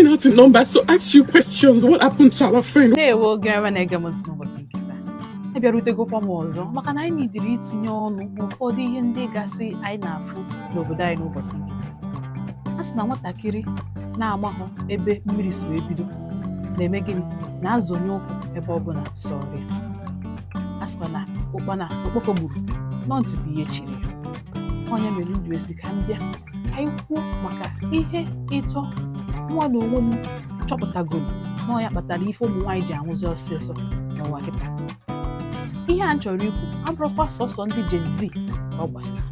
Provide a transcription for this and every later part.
me out in numbers to ask you questions. What happened to our friend? Ndewo gị nwa na-ege m n'ụbọchị taa abịarutegokwa m ọzọ maka na anyị needịrị itinye ọnụ n'ụfọdụ ihe ndị gasị anyị na-afụ n'obodo anyị n'ụbọchị nke taa a sị na nwatakịrị na-amahụ ebe mmiri si wee bido na-eme gịnị na-azọnye ụkwụ ebe ọ bụla sọrọ ya a sịkwa na ụkpana okpoko gburu na ọ ntị bụ ihe chiri ya ọ nya mere m ji wee sị ka m bịa anyị kwuo maka ihe ịtọ nwa na onwe m chọpụtagoro na ọ ya kpatara ife ụmụ nwaanyị ji anwụzi ọsịsọ n'ụwa kịta ihe a m chọrọ ikwu abụrụkwa sọsọ ndị Gen Z ka ọ gbasara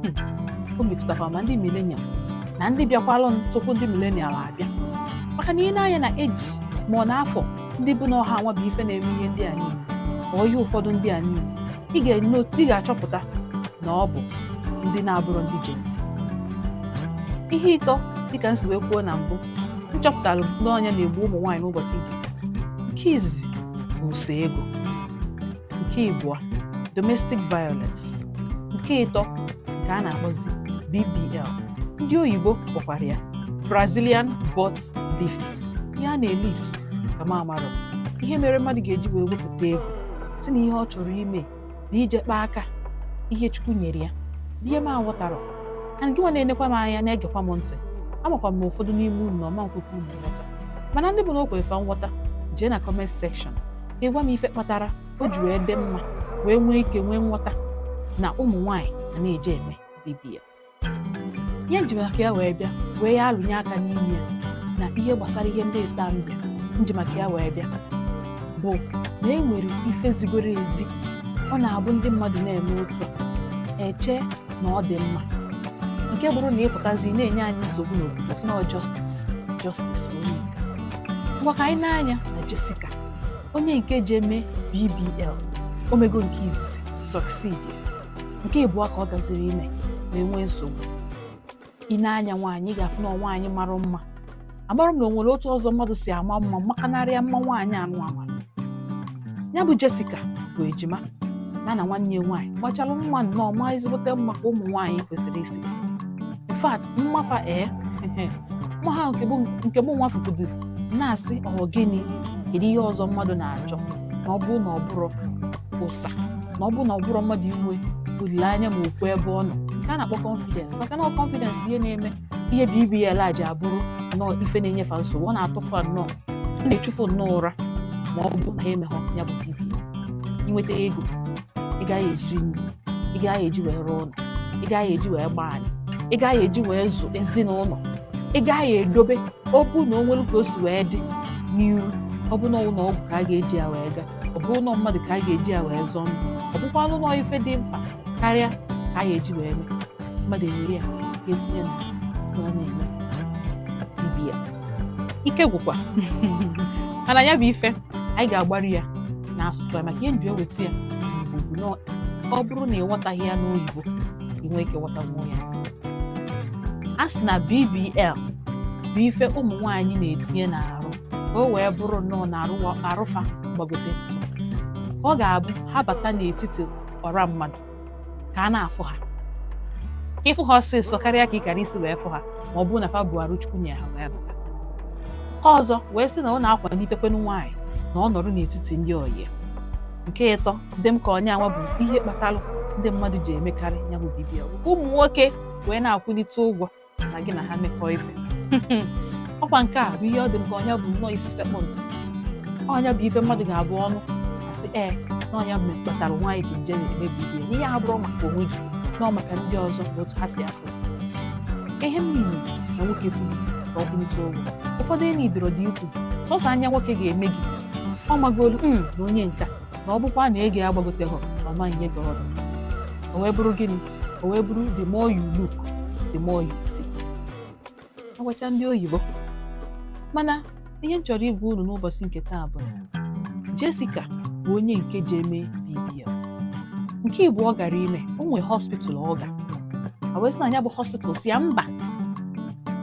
Hmm. o metụtakwa ma ndị millennial na ndị bịakwalụ tupu ndị millennial abịa maka na i nee anya na age ma ọ na afọ ndị bụ na ọ ha nwa bụ ife na-eme ihe ndị a niile ma ihe ụfọdụ ndị a niile ị ga-enotu ị ga-achọpụta na ọ bụ ndị na-abụrụ ndị Gen Z ihe ịtọ dịka m si wee kwuo na mbụ m chọpụtara na ọ nya na-egbu ụmụ nwaanyị n'ụbọchị nke izizi bụ usa ego nke ịbụọ domestic violence nke ịtọ nke a na-akpọzi BBL ndị oyibo kpọkwara ya Brazilian butt lift ihe a na-elift ka m amarọ ihe mere mmadụ ga-eji wee wepụta ego sị na ihe ọ chọrọ ime na ije kpaa aka ihe chukwu nyere ya bụ ihe m aghọtarọ and gịnwa na-enekwa m anya na-egekwa m ntị amakwa m ụfọdụ n'ime unu na ọ ma nkwekwa unu nghọta mana ndị bụ na o kwere fa nghọta jee na comment section ka ị gwa m ife kpatara o ji wee dị mma wee nwee ike nwee nghọta na ụmụ nwaanyị na-eje eme BBL ihe nji maka ya wee bịa wee ya alụnye aka n'ime ya na ihe gbasara ihe ndị ịtọ a mbe nji maka ya wee bịa bụ na e nwere ife zigoro ezi ọ na-abụ ndị mmadụ na-eme otu a eche na ọ dị mma nke bụrụ na ịpụtazi na-enye anyị nsogbu n'obodo sị na ọ justice justice for onye nke a ngwa ka anyị nee anya na Jessica onye nke je eme BBL o mego nke izizi succeed ya nke ịbụọ ka ọ gaziri ime wee nwee nsogbu i nee anya nwaanyị ị ga-afụ na nwaanyị mara mma amarọ m na o nwere otu ọzọ mmadụ si ama mma makanarịa mma nwaanyị anụ amara ya bụ Jessica bụ ejima ya na nwanne ya nwaanyị machara mma nnọọ ma ezigbote mma ka ụmụ nwaanyị kwesịrị isi in fact mma fa ee mma ha nke mụ nwa fụkwuduru na-asị ọ gịnị kedu ihe ọzọ mmadụ na-achọ na ọ bụrụ na ọ bụrụ ụsa na ọ bụrụ na ọ bụrụ mmadụ inwe olileanya ma okwu ebe ọ nọ nke a na-akpọ confidence maka na confidence bụ ihe na-eme ihe BBL a ji abụrụ nnọọ ife na-enye fa nsogbu ọ na-atụ fa nnọọ ọ na-echu fa nnọọ ụra ma ọ bụ na ha emeghọ ya bụ BBL inweta ego ị gaghị eji eri nri ị gaghị eji wee rụọ ụlọ ị gaghị eji wee gbaa anị ị gaghị eji wee zụ ezinụlọ ị gaghị edobe ọ bụ na o nwere ka o si wee dị n'iru ọ bụ na ụlọ ọgwụ ka a ga-eji ya wee gaa ọ bụ na ọ mmadụ ka a ga-eji ya wee zọọ ndụ ọ bụkwanụ na ọ ife dị mkpa karịa ka a ga-eji wee mee mmadụ ewere ya ga-etinye na ihe ọ na-eme BBL ike gwụkwa mana ya bụ ife anyị ga-agbari ya n'asụsụ ya maka ihe m ji eweta ya n'Igbo bụ na ọ bụrụ na ị ghọtaghị ya n'oyibo ị nwee ike ghọtanwuo ya a sị na BBL bụ ife ụmụ nwaanyị na-etinye n'arụ ka o wee bụrụ nnọọ na arụ fa gbagote ọ ga-abụ ha bata n'etiti ọra mmadụ ka a na-afụ ha ị fụ ha ọsịsọ karịa ka ị kara isi wee fụ ha ma ọ bụrụ na fa bu arụ chukwu nye ha wee bata ọzọ wee sị na ọ na-akwalitekwanụ nwaanyị na ọ nọrọ n'etiti ndị ọyị nke ịtọ dị m ka ọ nya nwa bụ ihe kpatara ndị mmadụ ji emekarị ya bụ BBL ka ụmụ nwoke wee na-akwụlite ụgwọ na gị na ha mekọọ ife ọkwa nke a bụ ihe ọ dị m ka ọ nya bụ nnọọ isi sekpụ ntị ọ nya bụ ife mmadụ ga-abụ ọ nụ a sị ee na ọ nya bụ kpatara nwaanyị ji eje na-eme BBL ihe abụrọ maka onwe gị na ọ maka ndị ọzọ na otu ha si afụ ihe mere na nwoke fụrụ ka ọ kwụlite ụgwọ ụfọdụ enyi dịrọ dị ikwu sọsọ anya nwoke ga-ene gị ọ magolu hmm, na onye nke a na ọ bụkwa na ego ya agbagoteghị ọ ma-enye gị ọnụ o wee bụrụ gịnị o wee bụrụ the more you look the more you see agwacha ndị oyibo mana ihe m chọrọ ịgwa unu n'ụbọchị nke taa bụ na Jessica bụ onye nke je eme BBL nke ịbụọ ọ gara ime o nwee hospital ọ ga a wee sị na ya bụ hospital sị ya mba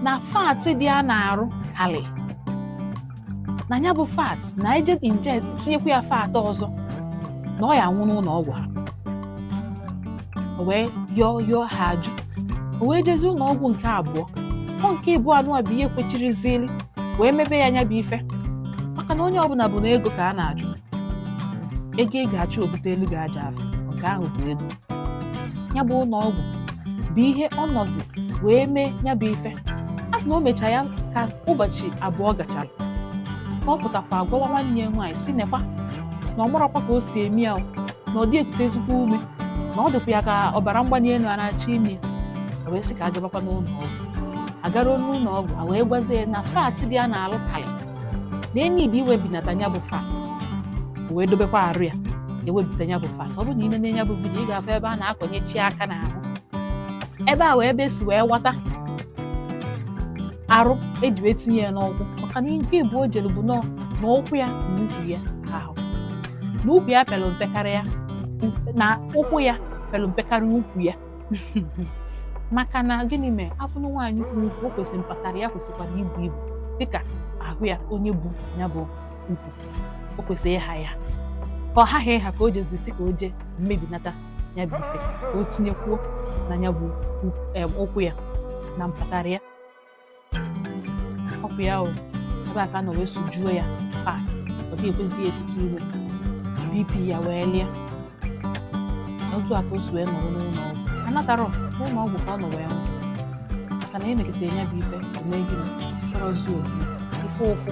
na fat dị ya n'arụ kalị na ya bụ fat na e je inject tinyekwa ya fat ọzọ na ọ ya-anwụ n'ụlọ ọgwụ ha o wee yọọ yọọ ha ajụ o wee jezi ụlọ ọgwụ nke abụọ ọ nke ịbụa nụwa bụ ihe kwechirizili wee mebe ya nya bụ ife maka na onye ọbụla bụ na ego ka a na-achụ ego ị ga-achụ o bute elu ga-aja afọ nke ahụ bụ ego ya bụ ụlọ ọgwụ bụ ihe ọ nọzi wee mee ya bụ ife a sị na o mecha ya ka ụbọchị abụọ gachara ka ọ pụtakwa agwawa nwanne ya nwaanyị sị nekwa na ọ marọkwa ka o si eme ya o, na ọ dị ekutezikwa ume na ọ dịkwa ya ka ọbara mgbali elu a na-achọ ime ya. A wee sị ka a gabakwa n'ụlọ ọgwụ a garuo n'ụlọ ọgwụ a wee gwazie ya na fat dị ya n'alụ karị na enyi dị iwebinata ya bụ fat wee dobekwa arụ ya ewebita ya bụ fat ọ bụrụ na ị nene ya bụ vidiyo ị ga-afụ ebe a na-akọnyechi aka n'ahụ ebe a wee ebe esi wee weta arụ eji wee tinye ya n'ukwu maka na nke mbụ o jere bụ nọọ na ụkwụ ya na ukwu ya ka ahụ na ukwu ya pere mpe karịa na ụkwụ ya pere mpe karịa ukwu ya maka na gịnị mere afụ na nwaanyị bu ukwu o kwesịrị mpatara ya kwesịkwara ibu ibu dịka ahụ ya onye bu ya bụ ukwu o kwesịrị ịha ya ka ọ haghị ịha ka o jezi sị ka o jee mebinata ya bụ ife ka o tinyekwuo na ya bụ ụkwụ ya na mpatara ya ọ bụ ya o ebe a ka nọ wee sujuo ya fat ọ dị ekwezi ya ekute ume bp ya wee lie na otu a ka o si wee nọrọ n'ụlọ ọgwụ anatarọ n'ụlọ ọgwụ ka ọ nọ wee nwụ maka na emekata ya bụ ife omeghị m chọrọzi obi ife ụfụ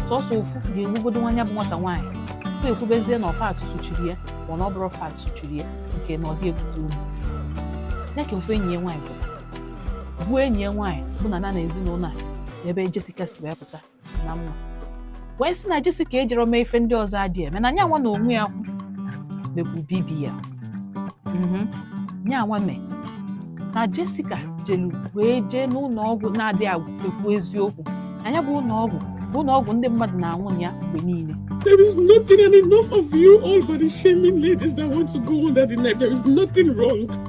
sọsọ ụfụ ga-egbugodo nwa ya bụ nwata nwaanyị tupu ekwubezie na ọ fat suchiri ya ma na ọ bụrọ fat suchiri ya nke na ọ dị ekute ume ya ka ofu enyi ya nwaanyị bụ bụ enyi ya nwaanyị bụ na na na ezinụlọ a ebe Jessica si wee pụta n'ama wee sị na Jessica ejerọ mee ife ndị ọzọ adị eme na nyanwa na onwe ya kwu mekwu BBL mhm. nyanwa mee na Jessica jelu wee jee n'ụlọ ọgwụ na-adịghị ekwu eziokwu na ya bụ ụlọ ọgwụ bụ ụlọ ọgwụ ndị mmadụ na-anwụ na ya mgbe niile There is nothing, and enough of you all body shaming ladies that want to go under the knife. There is nothing wrong.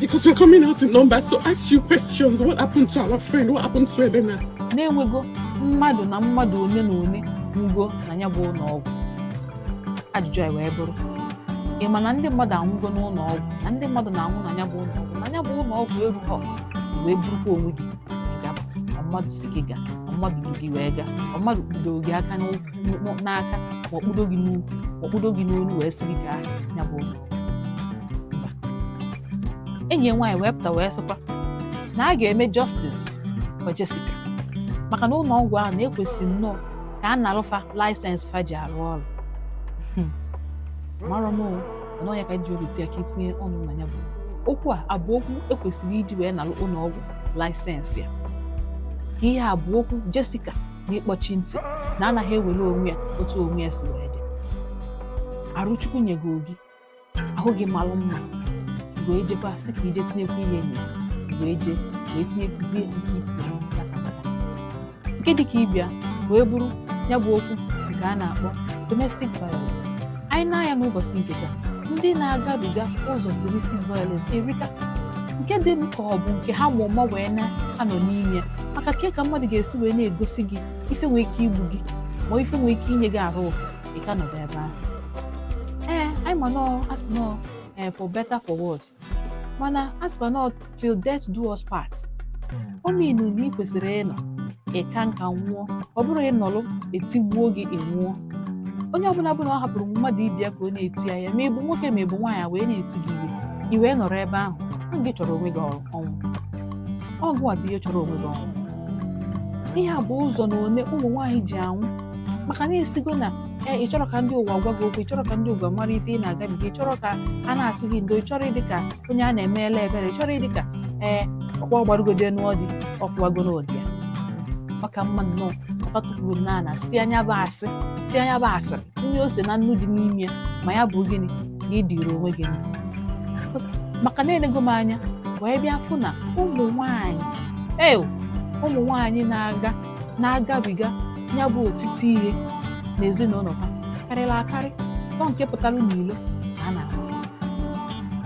Because we're coming out in numbers to ask you questions. What happened to our friend? What happened to Elena? Na e nwego mmadụ na mmadụ one na one nwugo na ya bụ ụlọ ọgwụ. Ajụjụ anyị wee bụrụ ị ma na ndị mmadụ anwụgo n'ụlọ ọgwụ na ndị mmadụ na-anwụ na ya bụ ụlọ ọgwụ na ya bụ ụlọ ọgwụ erughọ wee burukwa onwe gị gaba ma mmadụ sị gị gaa ma mmadụ du gị wee gaa ma mmadụ kpudoro gị aka n'ụkwụ- n'aka ma ọ kpudo gị n'ukwu ma ọ kpudo gị n'olu wee sị gị gaa ya bụ ụlọ enyi ya nwaanyị wee pụta wee sịkwa na a ga-eme justice for Jessica maka na ụlọ ọgwụ ahụ na e kwesị nnọọ ka a nalụ fa license fa ji arụ ọrụ hmm. mara m nọọ ya ka ji obi ya ka itinye ọnụ na ya bụ okwu a abụ okwu ekwesịrị iji wee nalụ ụlọ ọgwụ license ya ihe a bụ okwu Jessica na ịkpọchi ntị na anaghị ewere onwe ya otu onwe ya si wee dị arụ Chukwu nyego gị ahụ gị malụ mma wee jekwa sị ka i je tinyekwu ihe enyi wee je wee tinyekwuzie nke itinye nke dị ka ibe ya wee bụrụ ya bụ okwu nke a na-akpọ domestic violence anyị nee anya n'ụbọchị nke taa ndị na-agabiga ụzọ domestic violence erika nke dị m ka ọ bụ nke ha ma ụma wee na-anọ n'ime ya maka ke ka mmadụ ga-esi wee na-egosi gị ife nwee ike igbu gị ma ife nwee ike inye gị arụ ụfụ ị ka nọdụ ebe ahụ ee anyị ma na a sị na ọ ee eh, for better for worse mana a sịkwa na till death do us part o mean na ị kwesịrị ịnọ ịka nka nwụọ ọ bụrọ ị nọlụ e tigbuo gị ị nwụọ onye ọbụla bụ na ọ hapụrụ mmadụ ibe ya ka ọ na-eti ya ya ma ị bụ nwoke ma ị bụ nwaanyị e wee na-eti gị ihe i wee nọrọ ebe ahụ na gị chọrọ onwe gị ọnwụ ọ gịnwa bụ ihe chọrọ onwe gị ọnwụ ihe a bụ ụzọ na one ụmụ nwaanyị ji anwụ maka na esigo na ee ị chọrọ ka ndị ụwa gwa gị okwu ị chọrọ ka ndị ụwa mara ife ị na-agabiga ị chọrọ ka a na-asị gị ndo ị chọrọ ịdị ka onye a na-emela ebere ị chọrọ ịdị ka ee ọkpọ gbarugode n'ọdị ọ fụwago na di ya ọ ka mma nnọọ fa tukwuru n'ana sie nya bụ asịrị sie nya bụ asịrị tinye ose na nnu dị n'ime ma ya bụ gịnị na ị dịrị onwe gị mma maka na enego m anya wee bịa fụ na ụmụ nwaanyị ee ụmụ nwaanyị na-aga na-agabiga ya bụ otiti ihe n'ezinụlọ ha karịrị akarị ọ nke pụtara n'ilo ka a na-ahụ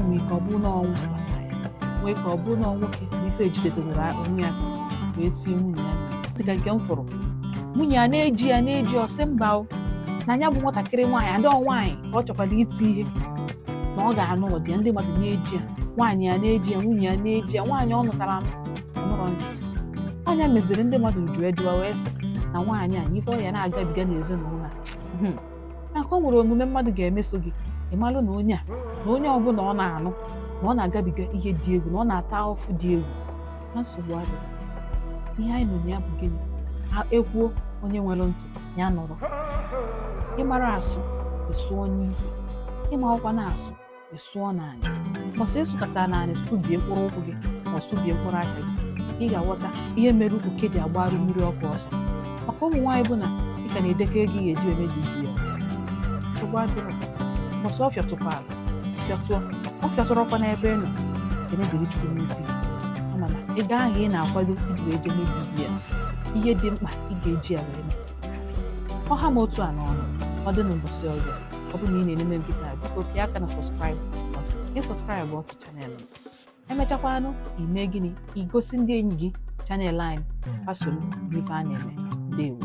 nwee ike ọ bụ na ọnwụ nwee ike ọ bụ na nwoke na ife ejidedewere onwe ya wee tie nwunye ya dịka nke m fụrụ nwunye ya na-eji ya na-eji ọ sị mba o na ya bụ nwatakịrị nwaanyị adị nwaanyị ka ọ chọkwara iti ihe na ọ ga-anụ ụdị ya ndị mmadụ na-eji ya nwaanyị ya na-eji ya nwunye ya na-eji ya nwaanyị ọ nụtara anụ nụrọ ntị nya meziri ndị mmadụ ju ejuwa wee sị na nwaanyị a ife ọ ya na-agabiga n'ezinụlọ a hmm. maka o nwere omume mmadụ ga-emeso gị ị malụ na onye a na onye ọbụla ọ na-anụ na ọ na-agabiga ihe dị egwu na ọ na-ata afụfụ dị egwu na nsogbu adịghị ihe anyị nọ ya bụ gịnị ha ekwuo onye nwere ntị ya nụrụ ị mara asụ ị sụọ n'ikwe ị marọkwanụ asụ ị sụọ n'anị ọsọ ị sụkata n'anị sụbie mkpụrụ ụkwụ gị ma sụbie mkpụrụ aka gị ị ga-aghọta ihe mere oke ji agbara mmiri ọkụ ọsọ maka ụmụ nwaanyị bụ na ị ka na-edekọ ego ị ga-eji eme BBL nsogbu adịrọ mbọsị ọ fịatụkwara fịatụọ ọ fịatụrọkwa n'ebe ị nọ ekene dịrị chukwu n'isi mana ego ahụ ị na-akwado iji wee jee mee BBL ihe dị mkpa ị ga-eji ya wee mee ọ ha m otu a n'ọnụ ọ dị n'ụbọchị ọzọ ọ bụrụ na ị na-ene m kịta biko pịa aka na subscribe gị subscribeụọ to channel m i mechakwanụ i mee gịnị i gosi ndị enyi gị channel anyị fa soro ife a na-eme ndewo